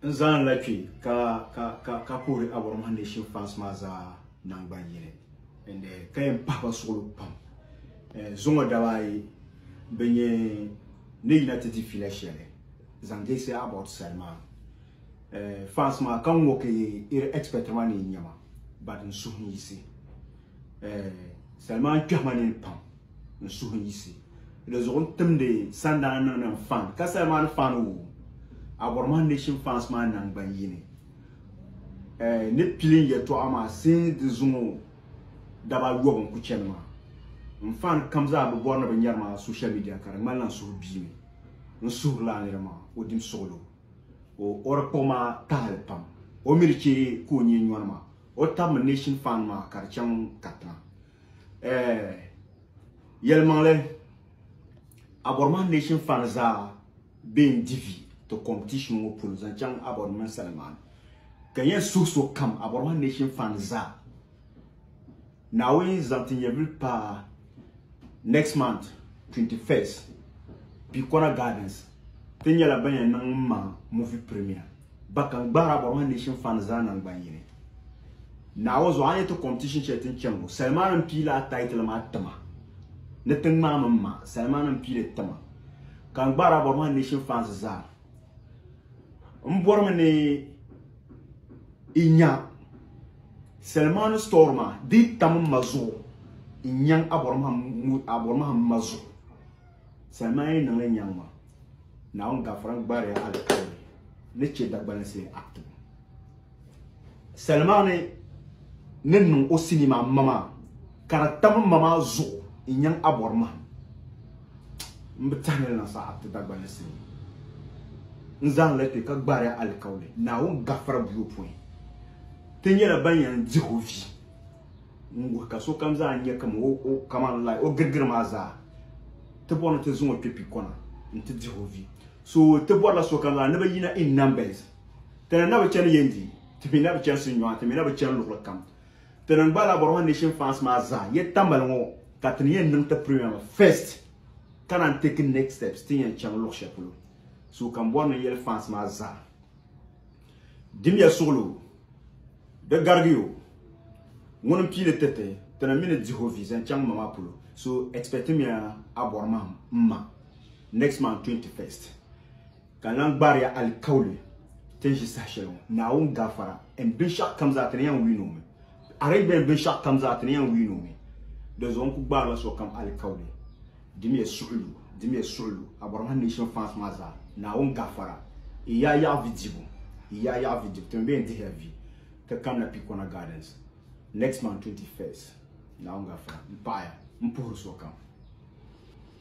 N zani la kpi ka ka ka ka kuhiri Abɔrɔmahi Nation fans maa zaa nangbani yini and eh, ka yɛn pahi ba suɣili pam eh, zuŋɔ daba ayi bin yɛn ni yina ti di fila shɛli zaŋ deesi Abɔr sali maa eh, fans maa ka ŋɔ ka yi iri expect ma ni yi nyɛma but n suhu n yisi eh, sali maa n kpɛhi ma nini pam. ni suhuyisi di zuɣu n timdi sandana niŋdi n fan ka sali maa ni fan o abɔri maa nation fans maa nangban yini eh, ni pilin yɛtɔɣa maa sin di zuŋo daba yɔbu n ku chɛni maa n fan kam zaa bi bɔri ni bi nyɛri maa social media ka di ŋmanila n suhu bia mi n suhurila nira maa o dim suɣulo o o di kpuɣi maa tahali pam o mi di chɛ ka o nyɛ nyɔri maa o tabimi nation fan maa ka di chaŋ katiŋa eh, yɛlimaŋli abɔrima nation fan zaa bɛn divi ti competition ŋɔ polo zaŋ chaŋ abɔrima salimaani ka yɛn suhi so kam abɔrima nation fan zaa naawuni zaŋ ti nyɛvili paa next month 21st Bikona Gardens ti nyɛla ban yɛn niŋ ma movie premier Ba ka n gbaari a bɔrima Nation Fund zaa nangban yini. Naawuni zuɣu a ni ti competition shɛli ti ni chani ŋɔ, Salman n piila a title maa tima ni ti ŋmaai min ma, Salman n piili tima ka n gbaari a bɔrima Nation Fans zaa. M bɔrimi ni i nya Salman store maa di yi tam m ma zuɣu n nyaŋ a bɔrima m ma zuɣu. Salima yi niŋli nyaŋ ma, Naawuni gafara n-gbaari ya alikauli ni chɛ Dagbalinsi Act ŋɔ. Salima ni ni niŋ o sinii maa m-ma maa, ka di tam m-ma maa zuɣu n-nyaŋ abɔri mahim. M bi tɛhi ni di niŋ sa Act Dagbalinsi ni n-zaŋ li kpe ka gbaari ya alikauli Naawuni gafara buyopɔin. Ti nyɛla ban yɛn dihi o vi. n wuhi ka sokam zaa nya kam o o kamani lai o girigiri maa zaa ti bɔri ni ti zaŋ o kpe pi kɔna n ti dihi o vi so ti bɔrila sokam zaa ni bɛ yina in numbers tana na bi chani yendi ti mi na bi chani sinnyɔɣu ti mi na bi chani luɣuli kam ti ni gba la bɔri ma nation fans maa zaa yɛ tambali ŋɔ ka ti ni yɛn niŋ ti premier maa first ka naan take next steps ti yɛn chaŋ luɣu shɛli polo so kam bɔri ni yɛli fans maa zaa Dimiya suɣili o, di garigi o, ŋuni n-pii li tiriti ti ni mi ni dihi o vi zaŋ chaŋ ma maa polo, so expectimiya a bɔri mahim m ma next month 21st ka n lan gbaariya alikauli ti ni ʒi saha shɛli ŋɔ Naawuni gafara and binshɛɣu kam zaa ti ni yɛn wii ni o mi arrangement binshɛɣu kam zaa ti ni yɛn wii ni o mi dinzuɣu n ku gbaarila sokam alikauli Dimiya suɣulu, dimiya suɣulu, a bɔrimi ha nation fans maa zaa, Naawuni gafara, yi yaa yaɣi vi dibu, yi yaa yaɣi vi dibu, timi bɛ yɛn dihila vi, ka kamina Pikona Gardens, next month 21st, Naawuni gafara, m paɣiya, m puhiri sokam.